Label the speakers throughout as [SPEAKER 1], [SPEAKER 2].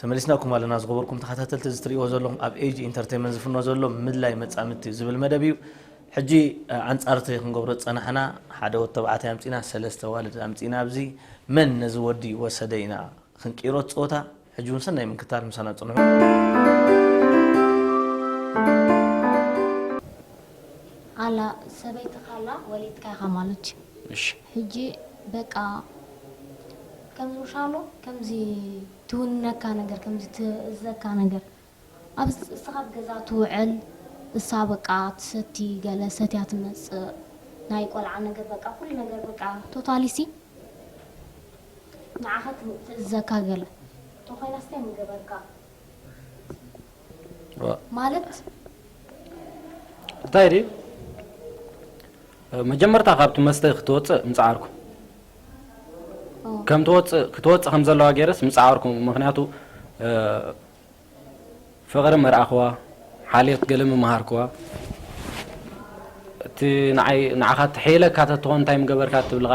[SPEAKER 1] ተመሊስናኩም ኣለና ዝኸበርኩም ተኸታተልቲ እዚ ትሪእዎ ዘለኹም ኣብ ኤጂ ኢንተርቴመንት ዝፍኖ ዘሎ ምድላይ መጻምድቲ ዝብል መደብ እዩ ሕጂ ኣንጻር እቲ ክንገብሮ ዝጸናሕና ሓደ ወዲ ተባዕታይ ኣምጺና ሰለስተ ኣዋልድ ኣምጺና ኣብዚ መን ነዚ ወዲ ወሰደ ኢና ክንቅይሮ እቲ ጸወታ ሕጂ እውን ሰናይ ምክታል ምሳና ጽንሑ ኣላ
[SPEAKER 2] ሰበይትኻ ኣላ ወሊድካ ኢኻ ማለት እዩ። እሺ ሕጂ በቃ ከም ዉሻሎ ከምዚ ትዉንነካ ነገር ከምዚ ትእዘካ ነገር ኣብዚ እስኻ ኣብ ገዛ ትዉዕል እሳ በቃ ትሰቲ ገለ ሰትያ ትመጽእ ናይ ቆልዓ ነገር በቃ ኩሉ ነገር በቃ ቶታሊ ሲ ንዓኻ ትእዘካ ገለ ተኾይናስ ታይ ምገበርካ። ማለት
[SPEAKER 3] እንታይ ድዩ መጀመርታ ካብቲ መስተ ክትወፅእ ምፅዓርኩ ከም ትወፅእ ክትወፅእ ከም ዘለዋ ገይረስ ምፅዓርኩ ምክንያቱ ፍቕሪ መርኣኽዋ ሓልዮት ገለ ምምሃርክዋ እቲ ንዓይ ንዓኻ ትሕይለካ ተትኾን እንታይ ምገበርካ ትብልኻ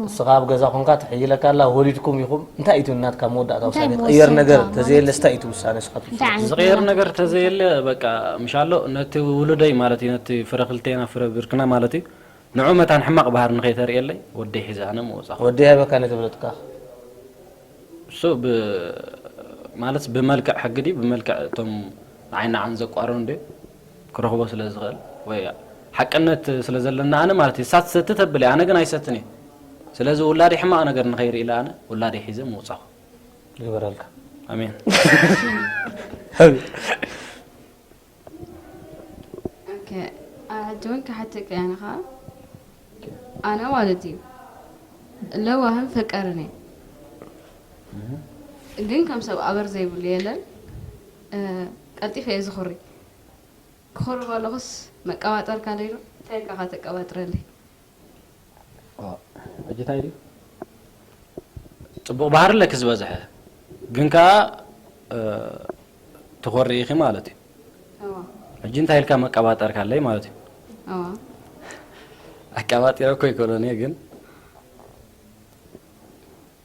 [SPEAKER 1] ንስኻ ኣብ ገዛ ኮንካ ትሕይለካ ኣላ ወሊድኩም ኢኹም እንታይ እዩ ናትካ መወዳእታ ውሳኔ ትቕየር ነገር ተዘየለ ስታይ እዩ ውሳኔ ስኻ ትውስድ ዝቕየር ነገር
[SPEAKER 3] ተዘየለ በቃ ምሻሎ ነቲ ውሉደይ ማለት እዩ ነቲ ፍረ ክልቴና ፍረ ብርክና ማለት እዩ ንዑ መታን ሕማቕ ባህሪ ንኸይተርእየለይ ወደይ ሒዘ ኣነ ምወጻኹ ወደይ ሃበካ ነይተብለጥካ
[SPEAKER 1] እሱ
[SPEAKER 3] ብ ማለት ብመልክዕ ሕጊ ድዩ ብመልክዕ እቶም ንዓይ ንዓን ዘቋርኑ ድዩ ክረኽቦ ስለ ዝኽእል ወይ ሓቅነት ስለ ዘለና ኣነ ማለት ንሳ ትሰቲ ተብል እያ ኣነ ግን ኣይሰትን እየ ስለዚ ውላደይ ሕማቕ ነገር ንኸይርኢ ኢለ ኣነ ውላደይ ሒዘ ምውጻኹ ይግበረልካ
[SPEAKER 1] ኣሜን
[SPEAKER 4] ሕጂ እውን ክሓተካ እያ ንኻ ኣነ ማለት እዩ ለዋህን ፈቀርን እየ ግን ከም ሰብ ኣበር ዘይብሉ የለን ቀልጢፈ እየ ዝኹሪ ክኹሪ ከለኹስ መቀባጠርካለይ ዶ እንታይ ኢልካ እኻ ተቀባጥረለይ። ዋእ ሕጂ
[SPEAKER 3] ታይ ድዩ ጽቡቅ ባህሪ ኣለኪ ዝበዝሐ ግን ከኣ ትኾሪ ኢኺ ማለት እዩ እዋ ሕጂ እንታይ ኢልካ መቀባጠርካለይ ማለት እዩ እዋ ኣቀባጢረ እኮ ኣይኮነን እየ ግን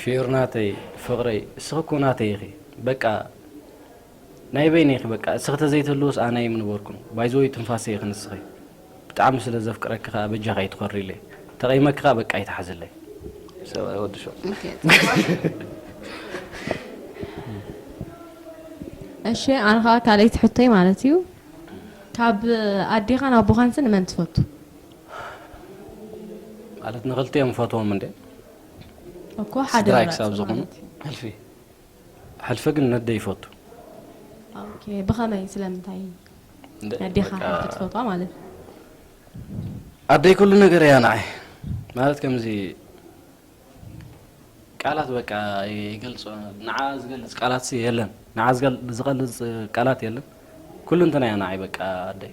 [SPEAKER 3] ፊዮር ናተይ ፍቅረይ እስኺ እኮ ናተይ ኢኺ በቃ ናይ በይነይ ኢኺ በቃ እስኺ ተዘይትህልውስ ኣነ ኣይምንበርኩን ባይዘወይ ትንፋሰይ ኢኺ ንስኺ ብጣዕሚ ስለ ዘፍቅረኪ ከኣ በጃኺ ኣይትኾርይለይ ተቀይመኪ ከኣ በቃ ኣይትሓዝለይ ሰብኣይ ወዲ
[SPEAKER 1] ሸው
[SPEAKER 5] እሺ ኣነ ከዓ ካልኣይቲ ሕቶይ ማለት እዩ ካብ ኣዴኻን ኣቦኻንስ ንመን ትፈቱ
[SPEAKER 3] ማለት
[SPEAKER 5] ንክልቲኦም
[SPEAKER 3] ፈትዎም
[SPEAKER 5] እንዴ እኮ ሓደ ስድራይ ክሳብ ዝኾኑ ማለት
[SPEAKER 3] እዩ። ሕልፊ ሕልፊ ግን ነደ ይፈቱ ኦኬ፣
[SPEAKER 5] ብኸመይ ስለምንታይ እንደ- ነዴኻ በቃ ሕልፊ ትፈትዋ ማለት እዩ?
[SPEAKER 3] ኣደይ ኩሉ ነገር እያ ንዓይ ማለት ከምዚ ቃላት በቃ ይገልጾ ንዓ ዝገልጽ ቃላት የለን ንዓ ዝገል- ዝገልጽ ቃላት የለን ኩሉ እንተና እያ ንዓይ በቃ ኣደይ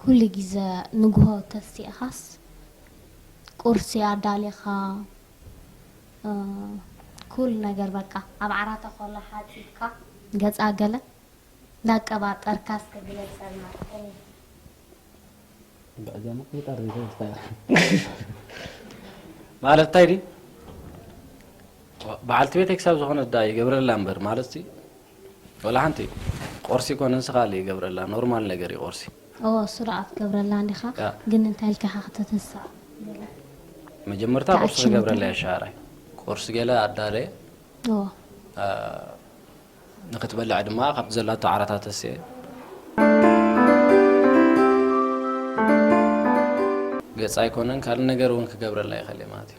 [SPEAKER 2] ኩሉ ግዘ ንግሆ ተሲእኻስ ቁርሲ ኣዳሊኻ ኩሉ ነገር በቃ ኣብ ዓራተ ኮላ ሓጺብካ ገጻ ገለ እንዳቀባጠርካ እስከ ግለጸልና
[SPEAKER 3] ከመይ ብዕደማ ይጠር ይጠር ማለት እንታይ ድዩ በዓልቲ ቤተይ ክሳብ ዝኾነት ደኣ ይገብረላ እምበር ማለት ወላ ሓንቲ ቆርሲ እኮ ንንስካ ኣሉ ይገብረላ ኖርማል ነገር እዩ ቆርሲ። እዎ ስሩዕ
[SPEAKER 2] ክትገብረላ እንዲኻ ግን እንታይ ኢልካ ኢኻ ከተተስኣ ገለ
[SPEAKER 3] መጀመርታ ቁርሲ ተኣኪቡ ክገብረላ እየ ሻዕራይ ቁርሲ ገለ ኣዳለየ እዎ ንክትበልዕ ድማ ካብቲ ዘላቶ ዓራታት ተስኤ ገጻ ኣይኮነን ካልእ ነገር እውን ክገብረላ ይኸእል እየ ማለት እዩ።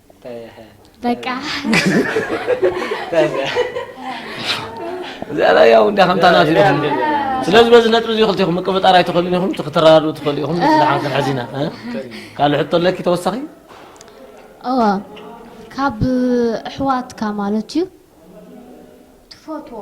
[SPEAKER 2] በቃ
[SPEAKER 1] እዚኣ ላይ ያው እንዳ ከምታ ናት ኢኹም ስለዚ በዚ ነጥቢ እዚ ክልቲኹም ምቅብጣር ኣይትኽእሉን ኢኹም እቲ ክትረዳድኡ ትኽእሉ ኢኹም ንስላሓን ክንሕዚና ካልእ ሕቶ ኣለኪ ተወሳኺ እወ
[SPEAKER 2] ካብ ኣሕዋትካ ማለት እዩ ትፈትዎ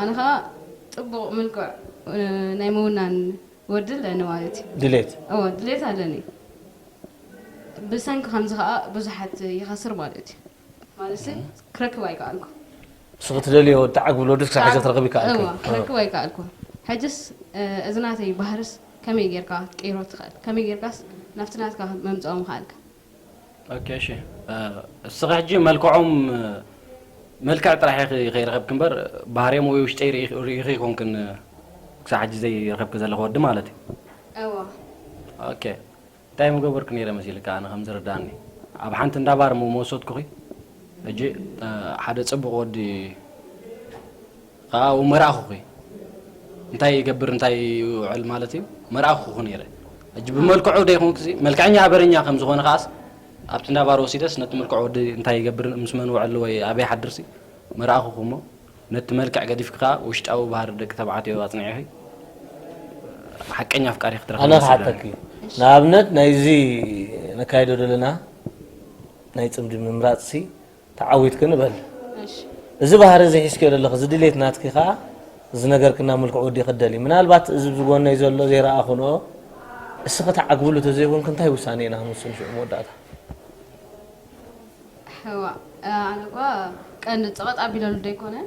[SPEAKER 4] ኣነ ከኣ ጽቡቕ ምልኩዕ ናይ ምውናን ወዲ ኣለኒ ማለት እዩ። ድሌት። እወ
[SPEAKER 1] ድሌት ኣለኒ።
[SPEAKER 4] ብሰንኪ ከምዚ ከኣ ብዙሓት ይኸስር ማለት እዩ። ማለትሲ ክረክብ ኣይከኣልኩ። ንስኺ ትደልዮ
[SPEAKER 1] እትዓግብሉ ወዲ ክሳብ ሕጂ ክትረኽቢ ኣይከኣልክን። እወ ክረክብ ኣይከኣልኩ።
[SPEAKER 4] ሕጅስ እዚ ናተይ ባህርስ ከመይ ጌርካ ክትቅይሮ ትኽእል? ከመይ ጌርካስ ናብቲ ናትካ መምጽኦ ምኸኣልካ? ኦኬ
[SPEAKER 3] እሺ እስኺ ሕጂ መልክዖም መልክዕ ጥራሕ ኢኺ ከይረኸብኪ እምበር ባህርዮም ወይ ውሽጠይ ርኢኺ ኣይኮንክን ክሳብ ሕጂ ዘይረኸብኪ ዘለኺ ወዲ ማለት እዩ እወ ኦኬ እንታይ ምገበርኩ ነይረ መሲልካ ኣነ ከም ዝርዳእኒ ኣብ ሓንቲ እንዳ ባር ምወሰድኩኺ ሕጂ ሓደ ፅቡቕ ወዲ ኣብኡ መርኣኹኺ እንታይ ይገብር እንታይ ይውዕል ማለት እዩ መርኣኹኹ ነይረ ሕጂ ብመልክዑ ደይኮንኩ መልክዐኛ ኣበረኛ ከም ዝኾነ ከዓስ ኣብቲ እንዳባር ወሲደስ ነቲ ምልክዕ ወዲ እንታይ ይገብር ምስ መን ውዕል ወይ ኣበይ ሓድርሲ መርኣኹኹ እሞ ነቲ መልክዕ ገዲፍኪ ከዓ ውሽጣዊ ባህሪ ደቂ ተባዕትዮ ኣጽኒዕኺ ሓቀኛ ኣፍቃሪ ክትረኽቢ ኣነ ክሓተኪ
[SPEAKER 1] ንኣብነት ናይዚ ነካይዶ ዘለና ናይ ፅምዲ ምምራፅሲ ተዓዊትኪ ንበል እዚ ባህሪ እዚ ሒዝክዮ ዘለኺ እዚ ድሌት ናትኪ ከኣ እዚ ነገርክና ምልኩዕ ወዲኺ ትደልዪ ምናልባት እዚ ብጎነይ ዘሎ ዘይረኣኹንኦ እስኺ ተዓግብሉ ተዘይኮንኪ እንታይ ውሳኔ ኢና ክንውስን ሽዑ መወዳእታ ሕዋ
[SPEAKER 4] ኣነኳ ቀንዲ ጸቐጥ ኣቢለሉ ዶ ኣይኮነን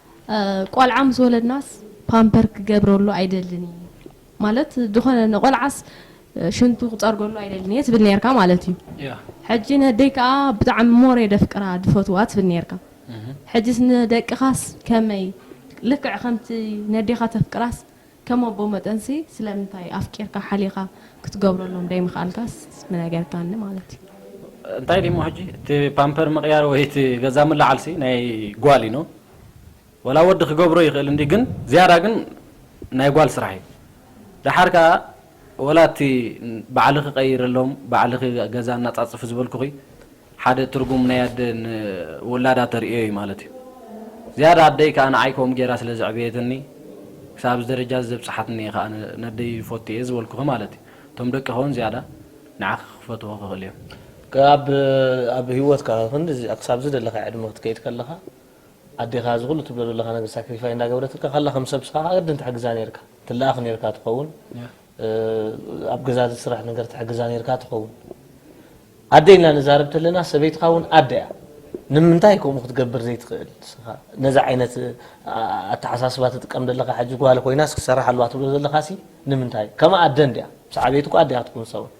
[SPEAKER 5] ቆልዓ ምስ ወለድናስ ፓምፐር ክገብረሉ ኣይደልን ኢየ ማለት ድኾነ ንቆልዓስ ሽንቱ ክጸርገሉ ኣይደልን ኢየ ትብል ኔርካ ማለት ኢዩ ሕጂ ነደይ ከኣ ብጣዕሚ ሞር ኢየ ደፍቅራ ድፈትዋ ትብል ኔርካ ሕጂስ ንደቅኻስ ከመይ ልክዕ ከምቲ ነዴኻ ተፍቅራስ ከም ኣቦ መጠንሲ ስለምንታይ ኣፍቂርካ ሓሊኻ ክትገብረሎም ደይምኽኣልካስ ምነገርካኒ ማለት እዩ። እንታይ ድዩሞ
[SPEAKER 3] ሕጂ እቲ ፓምፐር ምቕያር ወይ እቲ ገዛ ምልዓልሲ ናይ ጓል እዩ ን ወላ ወዲ ክገብሮ ይኽእል እንድዩ ግን ዝያዳ ግን ናይ ጓል ስራሕ እዩ ደሓር ከኣ ወላ እቲ ባዕልኺ ቀይርሎም ባዕልኺ ገዛ ኣናጻጽፊ ዝበልኩኺ ሓደ ትርጉም ናይ ኣደ ን ውላዳ ተርእዮ እዩ ማለት እዩ። ዝያዳ ኣደይ ከኣ ንዓይ ከምኡ ጌራ ስለ ዘዕበየትኒ ክሳብ እዚ ደረጃ እዚ ዘብጽሓትኒ እየ ከኣ ነደይ ይፎቱ እየ ዝበልኩኺ ማለት እዩ። እቶም ደቅኺ እውን ዝያዳ ንዓኺ ክፈትዉኺ ክኽእሉ እዮም። ከኣ ኣብ
[SPEAKER 1] ኣብ ህይወትካ ክንድዚ ክሳብ ዝደለኻዮ ዕድመ ክትከይድ ከለኻ ኣዴኻ እዚ ኩሉ ትብሎ ዘለኻ ነገር ሳክሪፋይ እንዳገበረትልካ ከላ ከም ሰብ ንስኻ ከኣ ግድን ትሕግዛ ኔርካ ትለኣኽ ኔርካ ትኸውን ኣብ ገዛ ዝስራሕ ነገር ትሕግዛ ኔርካ ትኸውን ኣደ ኢልና ንዛረብ ተለና ሰበይትኻ እውን ኣደ እያ ንምንታይ ከምኡ ክትገብር ዘይትኽእል ንስኻ ነዚ ዓይነት ኣተሓሳስባ ትጥቀም ዘለኻ ሕጂ ጓል ኮይናስ ክሰራሕ ኣለዋ ትብሎ ዘለኻሲ ንምንታይ ከምኣ ኣደ እንድያ ምስ ዓበየት እኮ ኣደ እያ ክትኩን ንሳ እውን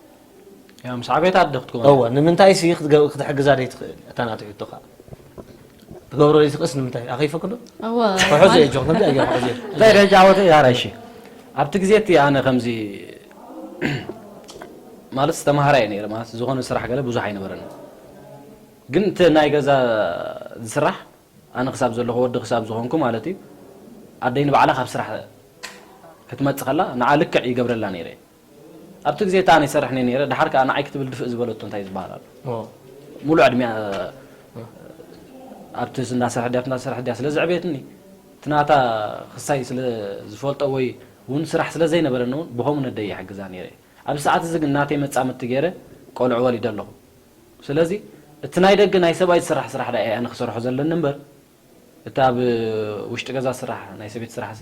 [SPEAKER 1] ያም
[SPEAKER 3] ሳዕቤት ኣደ ክትከውን እወ ንምንታይ ሲ
[SPEAKER 1] ክትሕግዛ ደይትኽእል እታ ናቱ ሕቶ ከዓ ትገብሮ ደይትኽእስ ንምንታይ ኣኸይፈክዶ ክሕዞ
[SPEAKER 5] እየ ጆክ ከምዚ
[SPEAKER 1] ኣየ ክሕዞ እንታይ ደጃ ዓወት እያ
[SPEAKER 3] ራይሺ ኣብቲ ግዜ እቲ ኣነ ከምዚ ማለት ዝተማሃራ እየ ነይረ ማለት ዝኾነ ስራሕ ገለ ብዙሕ ኣይነበረን ግን እቲ ናይ ገዛ ዝስራሕ ኣነ ክሳብ ዘለኹ ወዲ ክሳብ ዝኾንኩ ማለት እዩ ኣደይ ንባዕላ ካብ ስራሕ ክትመፅእ ከላ ንዓ ልክዕ ይገብረላ ነይረ ኣብቲ ግዜ እታ ኣነ ይሰርሕ እኔ ነይረ ደሓር ከኣ ንዓይ ክትብል ድፍእ ዝበለቶ እንታይ ዝበሃል ኣሎ ሙሉእ ዕድሜኣ ኣብቲ እንዳ ስራሕ ድያ ኣብቲ እንዳ ስራሕ ድያ ስለ ዘዕበየትኒ እቲ ናታ ክሳይ ስለ ዝፈልጦ ወይ ውን ስራሕ ስለ ዘይነበረኒ ውን ብኸምኡ ነደይ ይሕግዛ ነይረ ኣብዚ ሰዓት እዚ ግን ናተይ መጻምድቲ ገይረ ቆልዑ ወሊደ ኣለኹ ስለዚ እቲ ናይ ደገ ናይ ሰብኣይ ዝስራሕ ስራሕ ድኣ እየ ኣነ ክሰርሖ ዘለኒ እምበር እቲ ኣብ ውሽጢ ገዛ ዝስራሕ ናይ ሰበይቲ ስራሕሲ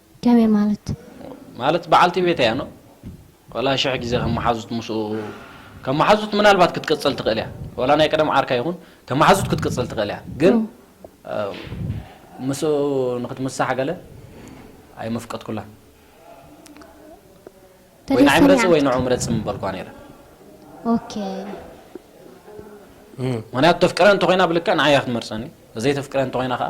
[SPEAKER 2] ከመይ ማለት? ማለት በዓልቲ ቤት እያ
[SPEAKER 3] ን ዋላ ሽሕ ግዜ ከም መሓዙት ምስኡ ከም መሓዙት ምናልባት ክትቅጽል ትኽእል እያ ዋላ ናይ ቀደም ዓርካ ይኹን ከም መሓዙት ክትቅጽል ትኽእል እያ ግን ምስኡ ንኽትምሳሕ ገለ ኣይመፍቀድኩላን ወይ ንዓይ ምረጺ ወይ ንዑ ምረጺ ምበልኳ ነይረ ኦኬ
[SPEAKER 2] ምኽንያቱ
[SPEAKER 3] ተፍቅረ እንተኾይና ብልክዕ ንዓይ እያ ክትመርጸኒ ዘይተፍቅረ እንተኾይና ከኣ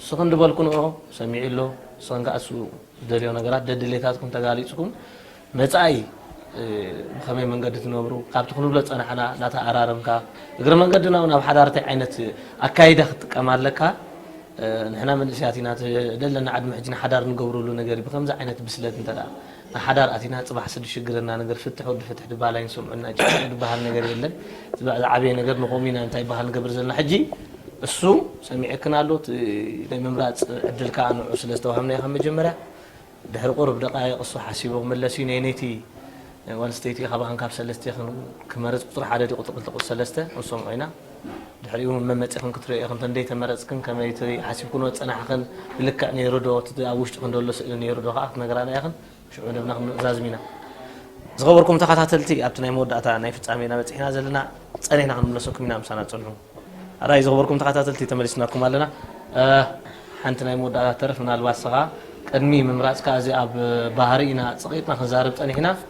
[SPEAKER 1] እሱ ክንዲ በልኩንኦ ሰሚዑ ኣሎ እሱን ከኣ እሱ ዝደልዮ ነገራት ደድሌታትኩም ተጋሊጽኩም መጻኢ ብኸመይ መንገዲ ትነብሩ ካብቲ ክንብሎ ዝጸናሕና እናተኣራረምካ እግረ መንገድና እውን ኣብ ሓዳር እንታይ ዓይነት ኣካይዳ ክትጥቀም ኣለካ ንሕና መንእሰያት ኢና እቲ ደለና ዕድመ ሕጂ ንሓዳር ንገብረሉ ነገር እዩ ብከምዚ ዓይነት ብስለት እንተ ንሓዳር ኣቲና ጽባሕ ስዲ ሽግርና ነገር ፍትሕ ወዲ ፍትሕ ድባሃል ኣይንሰምዖን ኢና ጭቅጭቅ ድባሃል ነገር የለን ዝዓበየ ነገር ንቆም ኢና እንታይ ባሃል ንገብር ዘለና ሕጂ እሱ ሰሚዕክን ኣሎ እቲ ናይ ምምራጽ ዕድል ካኣ ንዑ ስለ ዝተዋሃብናዮ ካብ መጀመርያ ድሕሪ ቁሩብ ደቃይቅ እሱ ሓሲቡ ክምለስ እዩ ነይነይቲ ጓል ኣንስተይቲ ካባኣን ካብ ሰለስቴክን ክመርጽ ቁጽሪ ሓደ ድዩ ቁጽሪ ክልተ ቁጽሪ ሰለስተ ክንሰምዖ ኢና። ድሕሪኡ መን መጺኽን ክትሪኦኦ ኢኽን ተንደይ ተመረጽክን ከመይ እቲ ሓሲብክንዎ ዝጸናሕኽን ብልክዕ ኔሩ ዶ እቲ ኣብ ውሽጥኽን ደሎ ስእሊ ኔሩ ዶ ከኣ ክትነግራና ኢኽን ሽዑ ንብና ክንዛዝም ኢና ዝኸበርኩም ተኻታተልቲ ኣብቲ ናይ መወዳእታ ናይ ፍጻሜ ኢና በጺሕና ዘለና ጸኒሕና ክንምለሰኩም ኢና ምሳና ጽንሑ ኣራይ ዝኸበርኩም ተኻታተልቲ ተመሊስናኩም ኣለና ሓንቲ ናይ መወዳእታ ተረፍ ምናልባት ንስኻ ቅድሚ ምምራጽካ እዚ ኣብ ባህሪ ኢና ጸቂጥና ክንዛረብ ጸኒሕና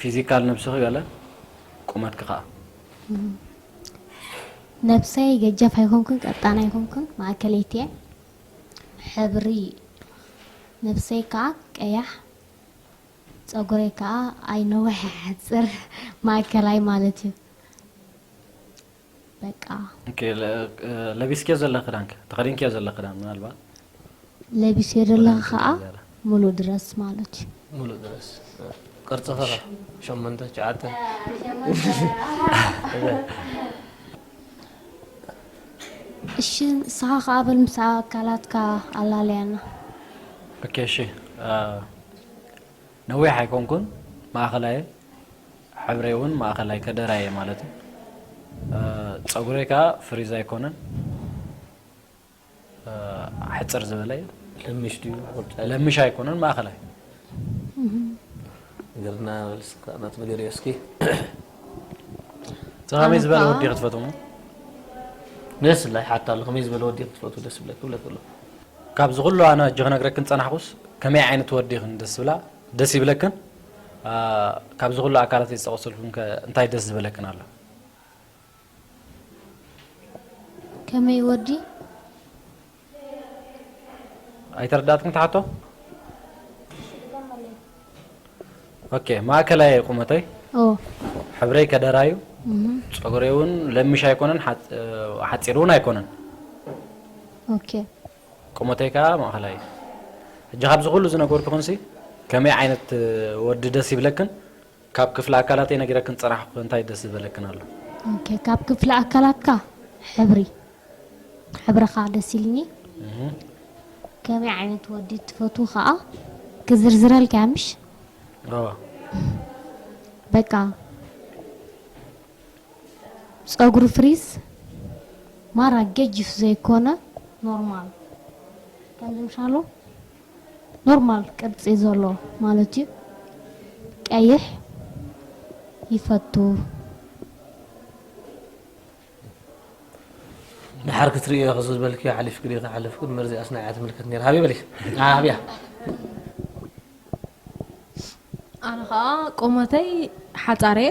[SPEAKER 3] ፊዚካል ነብስኺ ገለ ቁመትኪ ከኣ።
[SPEAKER 2] ነብሰይ ገጃፍ ኣይኮንኩን ቀጣን ኣይኮንኩን ማእከለይቲ እየ። ሕብሪ ነብሰይ ከኣ ቀያሕ ጸጉረይ ከኣ ኣይነውሕ ኣይሓጽር ማእከላይ ማለት እዩ። በቃ። ኦኬ
[SPEAKER 3] ለቢስክዮ ዘለኺ ክዳንከ ተኸዲንክዮ ዘለኺ ክዳን ምናልባት። ለቢስዮ
[SPEAKER 2] ዘለኺ ከኣ ምሉእ ድረስ ማለት እዩ። ሙሉእ ድረስ
[SPEAKER 1] ቅርጺ ከ ሸሞንተ ትሽዓተ።
[SPEAKER 2] እሺ ንስኻ ከኣ በል ምስ ኣካላትካ ኣላልያና።
[SPEAKER 3] ኦኬ እሺ። ነዊሕ ኣይኮንኩን ማእከላይ እየ ሕብረይ ውን ማእከላይ ከደራይ እየ ማለት እዩ ጸጉረይ ከኣ ፍሪዝ ኣይኮነን ሕጽር ዝበለ እዩ ለምሽ ድዩ
[SPEAKER 1] ቁርጫ ለምሽ ኣይኮነን
[SPEAKER 3] ማእከላይ
[SPEAKER 1] ግርና በልስካ ናት ንገርዮ እስኪ
[SPEAKER 3] እቲ ከመይ ዝበለ ኣነኳ- ወዲ ኢኺ ትፈትው?
[SPEAKER 1] ደስ ኢላ ይሓታ ኣሎ ከመይ ዝበለ ወዲ ኢኺ ትፈትው ደስ ይብለኪ ይብለኪ ኣሎ ካብዚ ኩሉ
[SPEAKER 3] ኣነ ሕጂ ክነግረክን ዝጸናሕኩስ ከመይ ዓይነት ወዲ ኢኽን ደስ ዝብላ ደስ ይብለክን ኣ፣ ካብዚ ኩሉ ኣካላተይ ዝጠቐሰልኩም ከ እንታይ ደስ ዝበለክን ኣሎ?
[SPEAKER 2] ከመይ ወዲ
[SPEAKER 3] ኣይተረዳኣትክን እቲ ሓቶ ኦኬ ማእከላይ እየ ቁመተይ ኦ ሕብረይ ከደራ እዩ ፀጉረይ እውን ለሚሽ ኣይኮነን ሓፅ- ሓፂር እውን ኣይኮነን
[SPEAKER 2] ኦኬ ቁመተይ
[SPEAKER 3] ከዓ ማእኸላይ እዩ ሕጂ ካብዚ ኩሉ ዝነገርኩኽንሲ ከመይ ዓይነት እ፣ ወዲ ደስ ይብለክን ካብ ክፍሊ ኣካላተይ ነጊረክን ፅራሕኩ እንታይ ደስ ዝበለክን ኣሎ? ኦኬ ካብ ክፍሊ
[SPEAKER 2] ኣካላትካ ሕብሪ ሕብርኻ ደስ ኢሉኒ ከመይ ዓይነት ወዲ ትፈትው ኸኣ ክዝርዝረልካ'ያ ምሽ? እወ። በቃ ጸጉሩ ፍሪዝ ማራ ገጅፍ ዘይኮነ ኖርማል ከምዚ ምሻሉ። ኖርማል ቅርጺ ዘሎ ማለት እዩ ቀይሕ ይፈቱ።
[SPEAKER 1] ድሓር ክትርእዮ ኢኺ ዝበልክዮ ሓሊፍኪ ድዩ ክሓልፍ ግን መርዚ ኣስናያ ትምልከት ነይራ ሃበይ በሊ ሃብያ
[SPEAKER 5] ኣነ ከኣ ቁመተይ ሓጻር እየ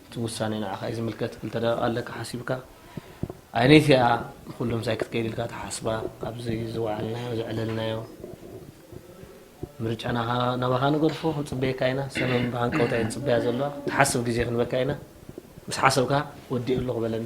[SPEAKER 1] እቲ ውሳኔ ንዓኻ እዩ ዝምልከት ክልተ ደቂቅ ኣለካ ሓሲብካ ኣይነይቲ እያ ንኩሉ ምሳይ ክትከይድ ኢልካ ትሓስባ ኣብዚ ዝወዓልናዮ ዘዕለልናዮ ምርጫ ናባኻ ንገድፎ ክንጽበየካ ኢና ሰመን ብሃንቀውታ እየ ዝጽበያ ዘለዋ ትሓስብ ግዜ ክንበካ ኢና ምስ ሓሰብካ ወዲኡ ኣለኹ በለኒ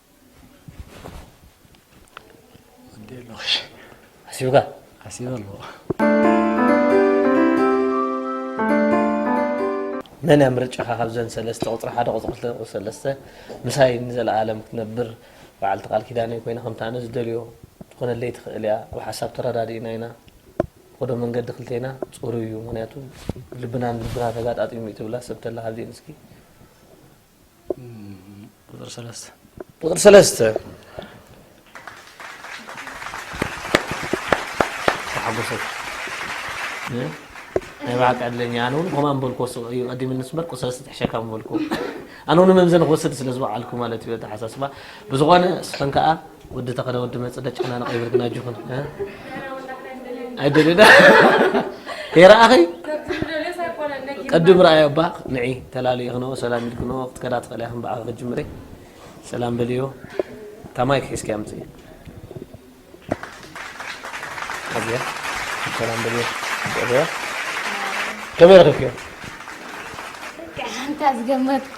[SPEAKER 1] ሓሲብካ ሓሲበ ኣለዎ መን እያ ምርጫኻ ካብዘን ሰለስተ ቁፅሪ ሓደ ቁፅሪ ክልተ ቁፅሪ ሰለስተ ምሳይ ንዘለኣለም ክትነብር በዓልቲ ቃል ኪዳነይ ኮይና ከምቲ ኣነ ዝደልዮ ትኾነለይ ትኽእል እያ ኣብ ሓሳብ ተረዳዲእና ኢና ኾዶ መንገዲ ክልተና ፅሩይ እዩ ምክንያቱ ልብናን ልብና ተጋጣጢሙ እዩ ትብላ ሰብ ተላ ካብዚኤን እስኪ ቁፅሪ ሰለስተ ቁፅሪ ሰለስተ ተሓጎሰት ናይ ባዕል ቀድለኛ ኣነ እውን ከምኣ ምበልኩ ወስኦ እዩ ቀዲም ንሱ በር ቁፅሪ ሰለስተ ትሕሸካ ምበልኩ ኣነ እውን መምዘኒ ክወስድ ስለ ዝበዓልኩ ማለት እዩ ኣተሓሳስባ ብዝኾነ እስኸን ከዓ ወዲ ተኸለ ወዲ መፅ ደጨናንቕ ይብል ግን ኣጆኽን ኣይደልዩና ከይረኣኺ ቅድም ረኣዮ እባ ንዒ ተላለዩ ክነዎ ሰላም ኢል ክነዎ ክትከዳ ትኽእልያ ከም በዓኺ ክትጅምሪ ሰላም በልዮ እታ ማይክ ሒዝኪያ ምፅኢ ኣብያ ሰላም በልዮ ፅዕበያ ከመይ ረኺብክዮ ሓንታ
[SPEAKER 2] ዝገመትኮ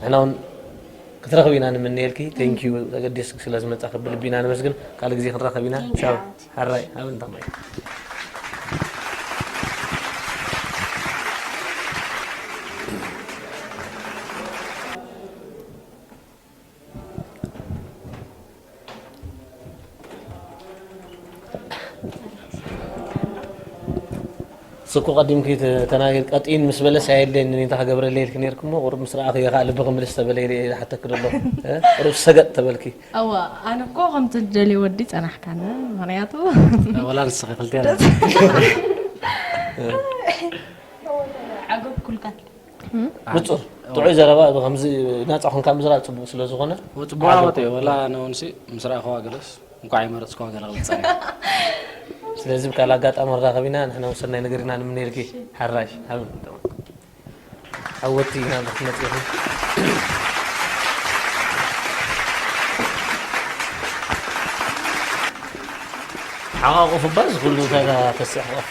[SPEAKER 2] ንሕና
[SPEAKER 1] እውን ክትረኽቢ ኢና ንምነየልኪ ቴንክ ዩ ተገዲስክ ስለ ዝመፃኺ ብልቢ ኢና ነመስግን ካልእ ግዜ ክንራኸብ ኢና Thank you፣ ቻው ሓውቲ። ሓራይ ኣብ እንታ ማይ ስኩ ቀዲምኪ ተናገር ቀጢን ምስ በለስ ኣየድለየኒ እኔ እንታይ ክገብረለይ ኢልኪ ነርኪ እሞ ቁሩብ ምስ ረኣኺ እየ ከዓ ልቢ ክምልስ ተበለ ኢለ እየ ዝሓተኪ ደሎ ቁሩብ ሰገጥ ተበልኪ እዋ ኣነ
[SPEAKER 5] እኮ ከምቲ ትደልዮ ወዲ ፀናሕካኒ ምክንያቱ ወላ ንስኺ
[SPEAKER 3] ክልቲኣና
[SPEAKER 2] ዓገብኩልካ ንጹር
[SPEAKER 1] ጥዑይ ዘረባ እብ ከምዚ ናጻ ኮንካ ምዝራብ ጽቡቅ ስለ ዝኾነ ጽቡቅ ዓወት እዩ ወላ
[SPEAKER 3] ኣነ እውን ሲ ምስ ረኣኹዋ ገለስ እንኳዕ ይመረጽኩዋ ገለ ክብል ጸኒሐ
[SPEAKER 1] ስለዚ ብካል ኣጋጣሚ ክንራኸቢና ንሕና እውን ሰናይ ነገር ኢና ንምነየልኪ ሓራሽ ኣብ ዓወቲ ኢና ንክትመጽ ኢኹ ሓቋቁፍባ ዝኩሉ እንታይ ተስሕቆፋ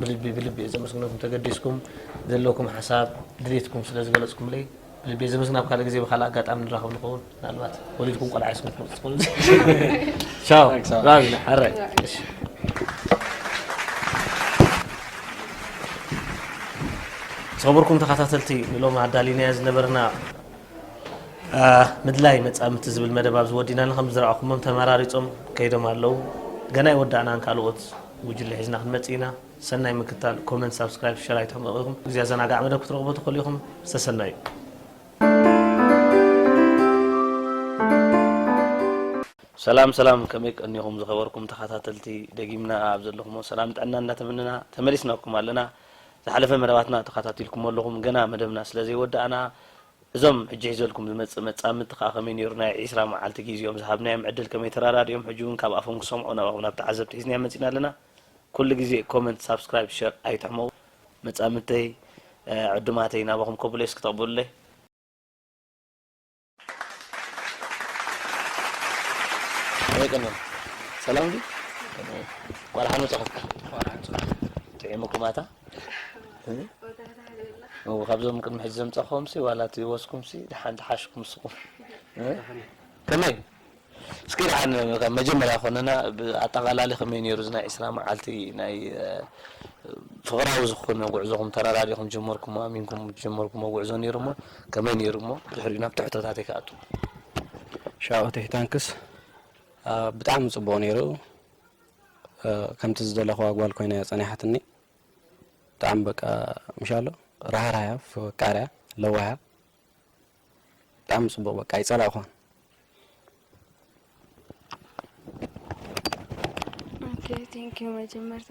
[SPEAKER 1] ብልቢ ብልቢ እየ ዘመስግነኩም ተገዲስኩም ዘለኩም ሓሳብ ድሌትኩም ስለ ዝገለፅኩምለይ ብልቢ እየ ዘመስግን ኣብ ካልእ ግዜ ብካልእ ኣጋጣሚ ንራኸብ ንኸውን ምናልባት ወሊድኩም ቆልዓ ይስኩም ትመፅእ ትኾኑ ቻው ራዚ ሓራይ ዝኸበርኩም ተኸታተልቲ ንሎም ኣዳሊናዮ ዝነበርና ምድላይ መጻምድቲ ዝብል መደብ ኣብዚ ወዲእና ከምቲ ዝረኣኹሞም ተመራሪጾም ከይዶም ኣለዉ ገና ኣይወዳእናን ካልኦት ጉጅለ ሒዝና ክንመጽእ ኢና ሰናይ ምክታል ኮመንት ሳብስክራይብ ሸር ኣይትሕመቑ ኢኹም ግዜ ኣዘናጋዕ መደብ ክትረኽቡ ትኽእሉ ኢኹም ዝተሰናዩ ሰላም ሰላም ከመይ ቀኒኹም ዝኸበርኩም ተኸታተልቲ ደጊምና ኣብ ዘለኹሞ ሰላም ጥዕና እንዳተመነና ተመሊስናኩም ኣለና ዝሓለፈ መደባትና ተኻታቲልኩሞ ኣለኹም ገና መደብና ስለ ዘይወዳእና እዞም ሕጂ ሒዘልኩም ዝመጽእ መጻምድቲ ከኣ ከመይ ኔሩ ናይ ዕስራ መዓልቲ ጊዚኦም ዝሃብናዮም ዕድል ከመይ ተራዳዲኦም ሕጂ ውን ካብ ኣፎም ክሰምዖ ናባኹም ናብ ተዓዘብቲ ሒዝናዮም መጺና ኣለና ኩሉ ጊዜ ኮመንት ሳብስክራይብ ሸር ኣይትሕመቁ መጻምድተይ ዕዱማተይ ናባኹም ከብሎ እስኪ ተቅብሉለይ። ሰላም ዲዩ እንኳን ደሓን መፃኹም ጥዒሙኩም ኣታ እው ካብዞም ቅድሚ ሕጂ ዘምፃኹምሲ ዋላ እቲ ወስኩምሲ ደሓን ተሓሽኩም ንስኹም ከመይ እስኪ ደሓን ካብ መጀመርያ ኮንና ብኣጠቓላሊ ከመይ ነይሩ እዚ ናይ ዕስራ መዓልቲ ናይ ፍቕራዊ ዝኾነ ጉዕዞኹም ተረዳዲእኹም ዝጀመርኩሞ ኣሚንኩም ዝጀመርኩሞ ጉዕዞ ነይሩ እሞ ከመይ ነይሩ እሞ ብድሕሪኡ ናብ ትሕቶታተይ ክኣቱ።
[SPEAKER 3] ሻኦተይ ታንክስ ብጣዕሚ ጽቡቕ ነይሩ ከምቲ ዝደለኹዋ ጓል ኮይና እያ ጸኒሓትኒ ብጣዕሚ በቃ ምሻሎ ራህራህያ ፈቃርያ ለዋህያ ብጣዕሚ ጽቡቕ በቃ ኣይጸላእኹን።
[SPEAKER 6] ቴንኪዩ መጀመርታ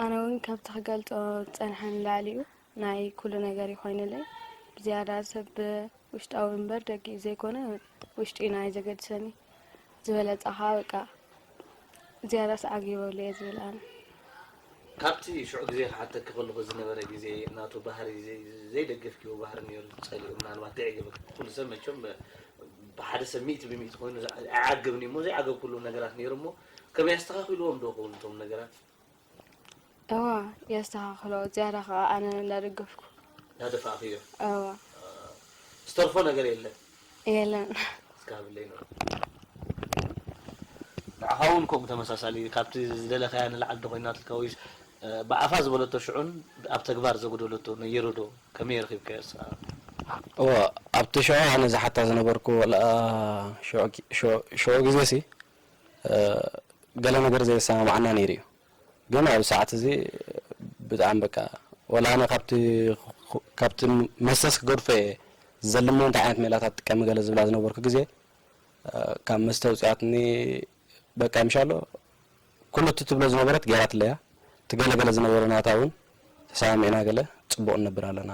[SPEAKER 6] ኣነ እውን ካብቲ ክገልፆ ፀንሐ ንላዕሊ እዩ ናይ ኩሉ ነገር ይኮይንለይ ብዝያዳ ሰብ ውሽጣዊ እምበር ደጊኡ ዘይኮነ ውሽጢና እዩ ዘገድሰኒ ዝበለጸ ከኣ በቃ ዝያዳስ ዓጊበሉ እየ ዝብል ኣነ።
[SPEAKER 1] ካብቲ ሽዑ ግዜ ክሓተኪ ከለኹ ዝነበረ ግዜ ናቱ ባህሪ ዘይደገፍኪዎ ባህሪ ኔሩ ዝጸልኦ ምናልባት ዘየዕገበኪ ኩሉ ሰብ መቸም ብሓደ ሰብ ሚእቲ ብሚእቲ ኮይኑ ኣይዓገብን እዩሞ ዘይዓገብክሉ ነገራት ኔሩ እሞ ከመይ ኣስተኻኺልዎም ዶ ይኸውን እቶም ነገራት እወ
[SPEAKER 6] የስተኻኽሎ ዝያዳ ከኣ ኣነ እንዳደገፍኩ። እንዳደፋእክዮ?
[SPEAKER 1] እወ። ዝተርፎ ነገር የለን? የለን።
[SPEAKER 6] እስከ ሃብለይ
[SPEAKER 1] ንርኦ። ንዓኻ ውን ከምኡ ተመሳሳሊ ካብቲ ዝደለኻያ ንላዕሊ ዶ ኮይናትልካ ወይስ ብኣፋ ዝበለቶ ሽዑን ኣብ ተግባር ዘጉደለቶ ነይሩ ዶ ከመይ ረኺብካዮ ንስኻ? እወ
[SPEAKER 3] ኣብቲ ሽዑ ኣነ ዝሓታ ዝነበርኩ ወላ ሽዑ ግዜሲ ገለ ነገር ዘየሰማምዓና ነይሩ እዩ ግን ኣብዚ ሰዓት እዚ ብጣዕሚ በቃ ወላ ኣነ ካብቲ ካብቲ መሰስ ክገድፎ እየ ዘልሞ እንታይ ዓይነት ሜላታት ጥቀሚ ገለ ዝብላ ዝነበርኩ ግዜ ካብ መስተ ኣውፅኣትኒ በቃ ምሻሎ ኩሉ እቲ ትብሎ ዝነበረት ገይራትለያ እቲ ገለገለ ዝነበረ ናታ እውን ተሰማሚዕና ገለ ፅቡቕ ንነብር ኣለና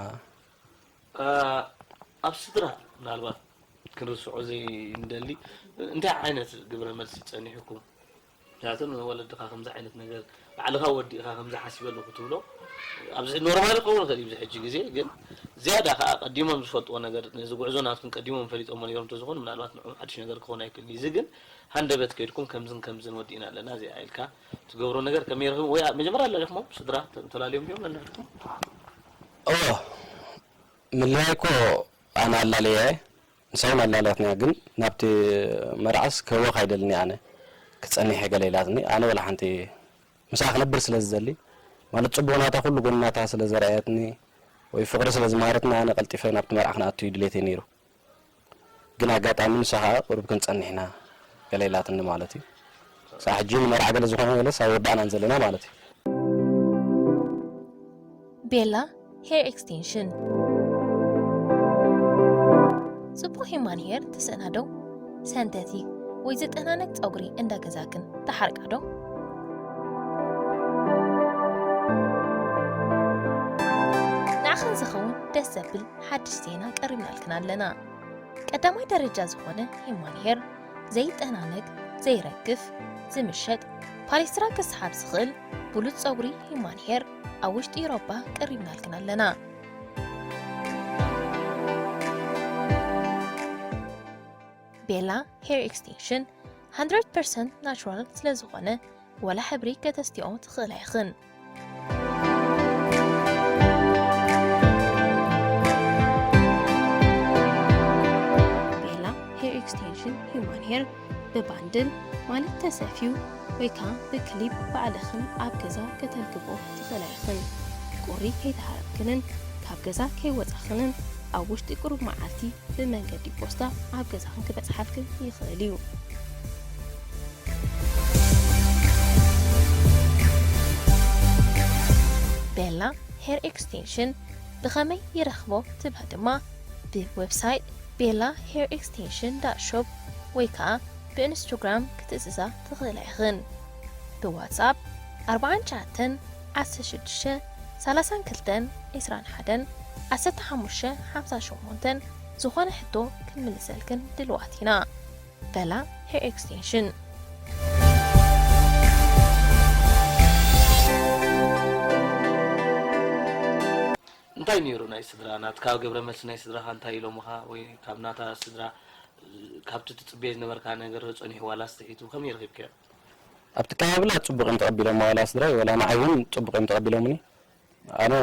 [SPEAKER 3] ኣብ
[SPEAKER 1] ስድራ ምናልባት ክንርስዖ ዘይንደሊ እንታይ ዓይነት ግብረ መልሲ ጸኒሑኩም? ምክንያቱ ንወለድኻ ከምዚ ዓይነት ነገር ባዕልኻ ወዲእኻ ከምዚ ሓሲበሉ ክትብሎ ኣብዚ ኖርማል ክኸውን ይኽእል እዩ ኣብዚ ሕጂ ግዜ ግን ዝያዳ ከኣ ቀዲሞም ዝፈልጥዎ ነገር ነዚ ጉዕዞ ናትኩም ቀዲሞም ፈሊጦሞ ነይሮም ተዝኾኑ ምናልባት ንዕኦም ሓድሽ ነገር ክኸውን ኣይክእልን እዩ እዚ ግን ሃንደበት ከይድኩም ከምዝን ከምዝን ወዲእና ኣለና እዚኣ ኢልካ ትገብሮ ነገር ከመይ ርኢኹሞ ወይ መጀመርያ ኣላሊኹሞም ስድራ ተላልዮም ድዮም ነንሕድሕድኩም? እወ
[SPEAKER 3] ምልያይ እኮ ኣነ ኣላልየያ እየ ንሳውን ኣላልያትኒያ ግን ናብቲ መርዓስ ክህወኽ ኣይደልን እየ ኣነ ክጸኒሕ እየ ገለ ኢላትኒ ኣነ ወላ ሓንቲ ምስኣ ክነብር ስለ ዝደሊ ማለት ጽቡቕ ናታ ኩሉ ጎኒ ናታ ስለ ዘርኣየትኒ ወይ ፍቕሪ ስለ ዝመሃረትኒ ኣነ ቀልጢፈ ናብቲ መርዓ ክንኣቱ እዩ ድሌተይ ነይሩ ግን ኣጋጣሚ ንሳ ከኣ ቁሩብ ክንጸንሕና ገለ ኢላትኒ ማለት እዩ ክሳዕ ሕጂ ንመርዓ ገለ ዝኾነ ገለስ ኣይወዳእናን ዘለና ማለት እዩ።
[SPEAKER 7] ቤላ ሄር ኤክስቴንሽን ጽቡቅ ሂማን ሄር ትስእና ዶ ሰንተቲክ ወይ ዝጠናነቅ ጸጉሪ እንዳ ገዛክን ትሓርቃ ዶ? ንዓኽን ዝኸውን ደስ ዘብል ሓድሽ ዜና ቀሪብናልክን ኣለና። ቀዳማይ ደረጃ ዝኾነ ሂማን ሄር ዘይጠናነግ፣ ዘይረግፍ፣ ዝምሸጥ ፓሌስትራ ክስሓብ ዝኽእል ብሉጽ ጸጉሪ ሂማን ሄር ኣብ ውሽጢ ኤሮፓ ቀሪብናልክን ኣለና። ቤላ ሄር ኤክስቴንሽን 100% ናቹራል ስለዝኾነ ወላ ሕብሪ ከተስትኦ ትኽእል ኣይኽን። ብባንድል ማለት ተሰፊዩ ወይ ከዓ ብክሊፕ ባዕልኽን ኣብ ገዛ ከተርክቦ ትኽእላ ኢኽን። ቁሪ ከይተሃረምክንን ካብ ገዛ ከይወፃኽንን ኣብ ውሽጢ ቁሩብ መዓልቲ ብመንገዲ ፖስታ ኣብ ገዛኽን ክበፅሓልክን ይኽእል እዩ። ቤላ ሄር ኤክስቴንሽን ብኸመይ ይረኽቦ ትብላ ድማ ብዌብሳይት ቤላ ሄር ኤክስቴንሽን ዳት ሾፕ ወይ ከኣ ብኢንስቶግራም ክትእዝዛ ትኽእላ ኢኽን። ብዋትስኣፕ ኣርብዓን ትሽዓተን ዓሰርተ ሽዱሽተ ሰላሳን ክልተን ዕስራን ሓደን ዓሰርተ ሓሙሽተ ሓምሳን ሸሞንተን ዝኾነ ሕቶ ክንምልሰልክን ድልዋት ኢና። በላ ሄር ኤክስቴንሽን።
[SPEAKER 1] እንታይ ነይሩ ናይ ስድራ ናትካ ግብረመልሲ ናይ ስድራኻ እንታይ ኢሎምኻ ወይ ካብ ናታ ስድራ ካብቲ ትጽበዮ ዝነበርካ ነገር ዶ ጸኒሑ ዋላስ ትሒቱ ከመይ ረኺብካዮ? ኣብቲ
[SPEAKER 3] ኣቀባብላ ጽቡቅ እዮም ተቀቢሎማ ዋላ ስድራይ ዋላ ንዓይ ውን ጽቡቅ እዮም ተቀቢሎምኒ ኣነ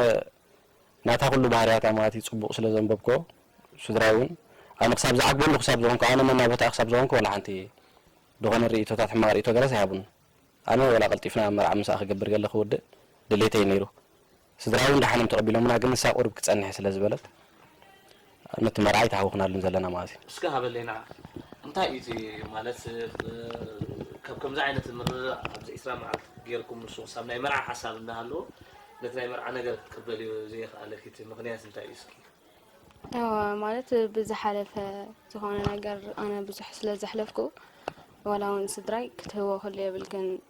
[SPEAKER 3] ናታ ኩሉ ባህርያት ኣማእቲ ጽቡቕ ስለ ዘንበብኮ ስድራይ ውን ኣነ ክሳብ ዝዓግበሉ ክሳብ ዝኾንኩ ኣነ መና ቦታኣ ክሳብ ዝኾንኩ ወላ ሓንቲ ድኾነ ርእይቶታት ሕማቕ ርእይቶ ገለስ ኣይሃቡንን ኣነ ወላ ቀልጢፍና መርዓ ምስኣ ክገብር ገለ ክውድእ ድሌተይ ኔሩ ስድራይ ውን ደሓኖም ተቐቢሎምና ግን ንሳ ቁሩብ ክትጸንሕ ስለ ዝበለት ነቲ መርዓይ ተሃውኽናሉን ዘለና መኣዝዩ። እስከ ሃበሌና
[SPEAKER 1] እንታይ እዩ እቲ ማለት ካብ ከምዚ ዓይነት ምርርራእ ኣብዚ ዕስራ መዓልቲ ጌርኩም ንሱ ክሳብ ናይ መርዓ ሓሳብ እንዳሃለዎ ነቲ ናይ መርዓ ነገር ክትቅበልዮ ዘየኽኣለኪ እቲ ምኽንያት እንታይ እዩ እስኪ እወ
[SPEAKER 6] ማለት ብዝሓለፈ ዝኾነ ነገር ኣነ ብዙሕ ስለ ዘሕለፍኩ ዋላ እውን ስድራይ ክትህቦ ክህሉ የብልክን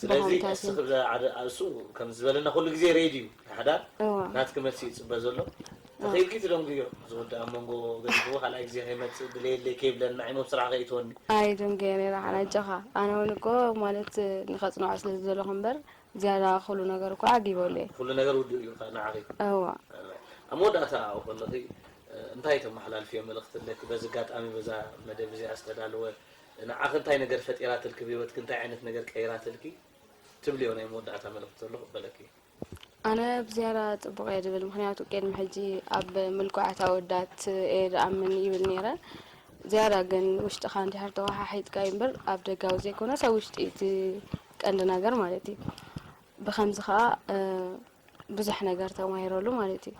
[SPEAKER 6] ስለዚ
[SPEAKER 1] እስኺ እሱ ከም ዝበለና ኩሉ ግዜ ሬዲ እዩ ንሓዳር ናትኪ መልሲ እዩ ዝፅበ ዘሎ ተኺኢልኪ ትደንጉዮ ዝውዳእ ኣብ መንጎ ገዲፍዎ ካልኣይ ግዜ ከይመፅእ ድለየለይ ከይብለና ዓይኒ ኣብ ስራሕ ከይእትወኒ ኣይ ደንጉየ ነይረ
[SPEAKER 6] ሓን ኣጆኻ ኣነ እውን እኮ ማለት ንኸፅንዖ ስለ ዝደለኹ እምበር ዝያዳ ኩሉ ነገር እኮ ዓጊበሉ እየ ኩሉ ነገር ውዱእ እዩ
[SPEAKER 1] ንዓኺ እዋ
[SPEAKER 6] ኣብ
[SPEAKER 1] መወዳእታ ኣብኡ ከለኺ እንታይ ተመሓላልፍዮ መልእኽቲ ኣለኪ በዚ ኣጋጣሚ በዛ መደብ እዚኣ ዝተዳለወ ንዓኺ እንታይ ነገር ፈጢራትልኪ ብሂወትኪ እንታይ ዓይነት ነገር ቀይራትልኪ ትብልዮ ናይ መወዳእታ መልእኽቲ ዘሎ ክበለኪ። ኣነ
[SPEAKER 6] ብዝያዳ ጽቡቕ እየ ዝብል ምኽንያቱ ቅድሚ ሕጂ ኣብ ምልኩዓት ኣወዳት እየ ዝኣምን ይብል ነይረ ዝያዳ ግን ውሽጥኻ እንድሕር ተወሓሒጥካዩ እምበር ኣብ ደጋዊ ዘይኮነስ ኣብ ውሽጢ እቲ ቀንዲ ነገር ማለት እዩ ብከምዚ ከኣ ብዙሕ ነገር ተማሂረሉ ማለት እዩ።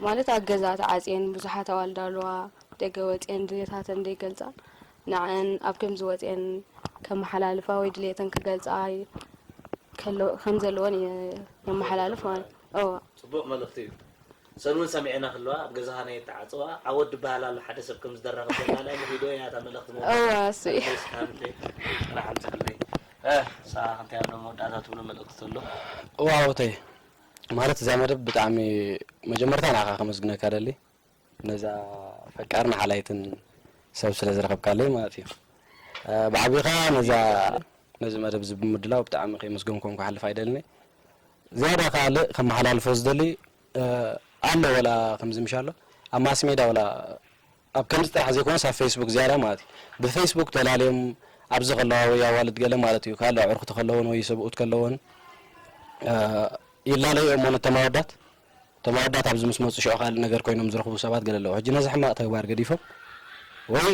[SPEAKER 6] ማለት ኣብ ገዛ ተዓጽየን ብዙሓት ኣዋልድ ኣልዋ ደገ ወጽየን ድሌታተን ዘይገልጻ ንዐኣን ኣብ ከምዚ ወጽየን ከመሓላልፋ ወይ ድሌተን ክገልጻ ከም ዘለወን የመሓላልፍ ማለት እዩ። እወ። ጽቡቅ መልእኽቲ እዩ።
[SPEAKER 1] ሰን ውን ሰሚዐን ክለዋ ኣብ ገዛካ ናይ ኣተዓጽዋ ዓወት ድበሃል ኣሎ ሓደ ሰብ ከም ዝደረከ ዘላልያ ቪድዮ እያ እታ መልእኽቲ ምውቃዕ እወ እሱ እዩ። ኣድለይ
[SPEAKER 6] ስሓብተይ
[SPEAKER 1] ጥራሕ ኣምጽኣለይ። እህ ንስኻ ክንታይ ኣብ መወዳእታ ትብሎ መልእኽቲ ተሎ? እወ
[SPEAKER 3] ዓወተይ ማለት እዚኣ መደብ ብጣዕሚ መጀመርታ ንዓኻ ከመስግነካ ደሊ ነዛ ፈቃርን ሓላይትን ሰብ ስለ ዝረኸብካለይ ማለት እዩ ብዓብይ ከኣ ነዛ ነዚ መደብ እዚ ብምድላው ብጣዕሚ ከየመስገንኩም ክሓልፍ ኣይደልኒ ዝያዳ ካልእ ከመሓላልፎ ዝደሊ ኣሎ ወላ ከምዚ ምሻሎ ኣብ ማስሜዳ ወላ ኣብ ከምዚ ጥራሕ ዘይኮነስ ኣብ ፈይስቡክ ዝያዳ ማለት እዩ። ብፈይስቡክ ተላልዮም ኣብዚ ከለዋ ወይ ኣዋልድ ገለ ማለት እዩ ካልእ ኣዕሩኽቲ ከለወን ወይ ሰብኡት ከለወን ይላለዩ እዮም እሞ ነቶም ኣወዳት እቶም ኣወዳት ኣብዚ ምስ መፁ ሽዑ ካልእ ነገር ኮይኖም ዝረኽቡ ሰባት ገለ ኣለዉ። ሕጂ ነዚ ሕማቕ ተግባር ገዲፎም ወይ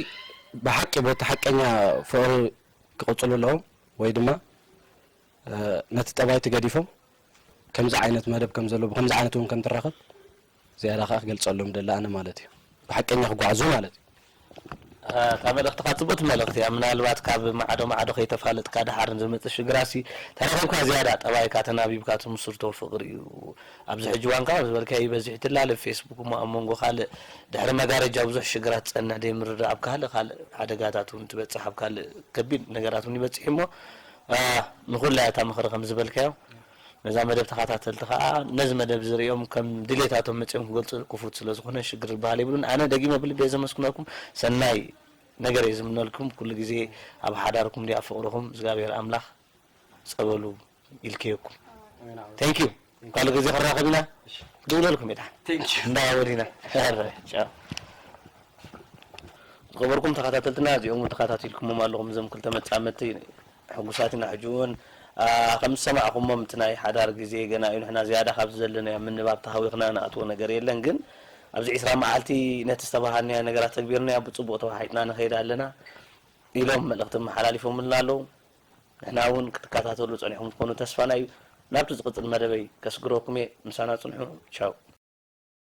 [SPEAKER 3] ብሓቂ በቲ ሓቀኛ ፍቕሪ ክቕፅሉ ኣለዎም ወይ ድማ ነቲ ጠባይቲ ገዲፎም ከምዚ ዓይነት መደብ ከም ዘሎ ብከምዚ ዓይነት እውን ከም ትራኸብ ዝያዳ ከኣ ክገልጸሎም ይደሊ ኣነ ማለት እዩ ብሓቀኛ ክጓዓዙ ማለት እዩ። እታ
[SPEAKER 1] መልእኽትኻ ጽብቕቲ መልእኽቲ እያ ምናልባት ካብ ማዕዶ ማዕዶ ከይተፋለጥካ ደሓር ንዝመጽእ ሽግራትሲ ተረኺብካ ዝያዳ ጠባይካ ተናቢብካ ትምስርቶ ፍቕሪ እዩ ኣብዚ ሕጂ እዋን ከኣ ዝበልካዮ ይበዝሕ ይትላለ ብ ፌስቡክ እሞ ኣብ መንጎ ካልእ ድሕሪ መጋረጃ ብዙሕ ሽግራት ዝጸንሕ ደይምርድዳእ ኣብ ካልእ ካልእ ሓደጋታት ውን ትበጽሕ ኣብ ካልእ ከቢድ ነገራት ውን ይበጽሕ እዩሞ ንኹላ እያ እታ ምኽሪ ከምዝበልካዮ ነዛ መደብ ተኻታተልቲ ከኣ ነዚ መደብ እዚ ርእዮም ከም ድሌታቶም መጺኦም ክገልጹ ክፉት ስለ ዝኾነ ሽግር ዝበሃል የብሉን። ኣነ ደጊመ ብልቢ እየ ዘመስግነኩም ሰናይ ነገር እየ ዝምነልኩም ኩሉ ግዜ ኣብ ሓዳርኩም ድዩ ኣብ ፍቕርኹም እዝግኣብሄር ኣምላኽ ጸበሉ ይልከየኩም። Thank you ካልእ ግዜ ክንራኸብ ኢና ክድውለልኩም እየ ደሓን Thank you። እንዳ ወዲና ኧረ ቻው። ዝኸበርኩም ተኻታተልትና እዚኦም እውን ተኻታቲልኩሞም ኣለኹም እዞም ክልተ መጻምድቲ ሕጉሳት ኢና ሕጂ ውን ከም ዝሰማዕኩሞም እቲ ናይ ሓዳር ግዜ ገና እዩ ንሕና ዝያዳ ካብዚ ዘለናዮ ኣብ ምንባብ ተሃዊኽና ንኣትዎ ነገር የለን ግን ኣብዚ ዕስራ መዓልቲ ነቲ ዝተበሃልናዮ ነገራት ተግቢርናዮ ብጽቡቕ ተወሓሒጥና ንኸይድ ኣለና ኢሎም መልእኽቲ ኣመሓላሊፎምልና ኣለዉ ንሕና ውን ክትከታተሉ ጸኒሕኩም ትኮኑ ተስፋና እዩ ናብቲ ዝቕጽል መደበይ ከስግረኩም እየ ምሳና ጽንሑ ቻው።